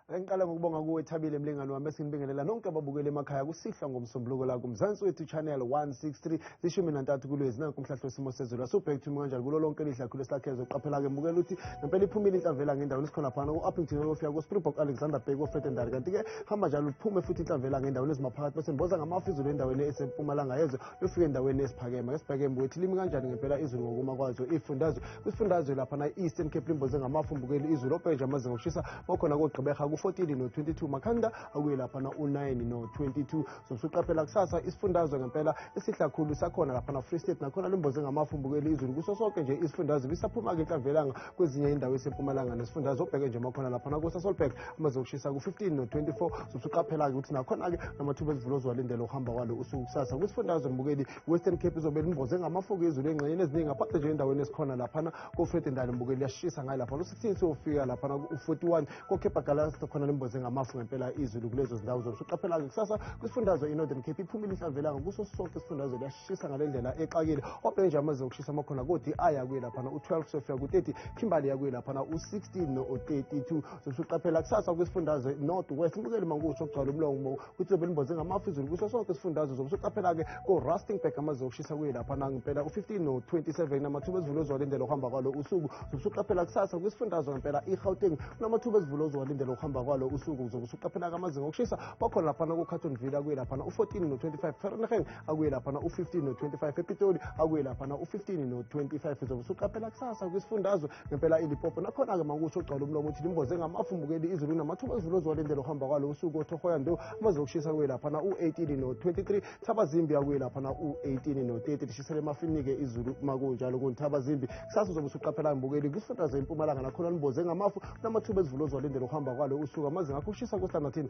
ake ngiqala ngokubonga kuwe thabile mlingane wami esinibingelela nonke ababukeli emakhaya kusihlwa ngomsombuluko la kumzansi wethu channel 163 zishumi nantathu kulwezi nanku umhlahlo wesimo sezulu asubhek to kanjani kulo lonke elidla khulu esilakhezo qaphela-ke mbukela ukuthi ngempela iphumile inhlamvela ngendawo nisikhona phana ku-uppington oyofika kuspringbok alexander bheki ofetendari kanti-ke hamba njalo liphume futhi inhlamvela ngendaweni ezimaphakathi bese niboza ngamafu izulu endaweni esempumalanga yezwe lofika endaweni esiphakeme esibheke mbukwethu limi kanjani ngempela izulu ngokuma kwazo ifundazwe kwisifundazwe lapha na-eastern cape limboze ngamafumbukeli izulu openje amazinga okushisa kwakhona kogqibeha ku-14 no-22 makhanda akuye lapha na-u-9 no-22 zosuqaphela kusasa isifundazwe ngempela esihlakhulu sakhona lapha na-free state nakhona limboze ngamafumbukeli izulu kuso sonke nje isifundazwe bisaphuma-ke inhlamvelanga kwezinye indawo esempumalanga nesifundazwe obheke nje makhona lapha nakusasolbek amazinga okushisa ku-15 no-24 zosuqaphela-ke ukuthi nakhona-ke namathuba ezivulozwalindelwa ukuhamba kwalo usuku kusasa kwisifundazwe mbukeli western cape izobe limboze ngamafoku ezulu engxenyeni eziningi aphathe nje endaweni esikhona laphana kofred ndali mbuke liyashisa ngayo laphana u-16 siyofika laphana u-41 kokhepha galasi khona limboze ngamafu ngempela izulu kulezo zindawo zobe suqaphela-ke kusasa kwisifundazwe inorthern cape iphumile inhlamvelanga kuso sonke isifundazwe liyashisa ngale ndlela exakile obhenje amaze okushisa amakhona kodi ayakuye laphana u-12 siyofika ku-30 kimberley yakuye laphana u-16 no-32 zobe suqaphela kusasa kwisifundazwe north west mbukeli mankusho kugcwala umlongo kwicebo elimboze ngamafu izulu kuso sonke isifundazwe zobe soqaphela-ke ko-rustingburg amaze okushisa kuye lapha nangempela u-15 no-27 amathuba ezivula ozowalindela ukuhamba kwalo usuku zobe usuqaphela kusasa kwisifundazwe ngempela i-gauteng kunamathub ezivula ozowalindela ukuhamba kwalo usuku zobe usuqaphela-ke amazinga okushisa bakhona laphana ku-carton villa kuye laphana u-14 no-25 fahrenheit akuye laphana u-15 no-25 epitoli akuye laphana u-15 no-25 uzobe usuqaphela kusasa kwisifundazwe ngempela ilipopo nakhona-ke makusho ugcwala umlomo uthi limboze ngamafu mbukeli izulu namathuba ezulu ozowalindela uhamba kwalo usuku othohoya ndo amaze okushisa kuye laphana u-18 no-23 thabazimbi akuye laphana u-18 no-30 lishisele emafinike izulu makunjalo kunthabazimbi kusasa uzobe usuqaphela mbukeli kwisifundazwe impumalanga nakhona limboze ngamafu namathuba ezulu ozowalindela uhamba kwalo usuku amaze ngakho ukushisa kustandathini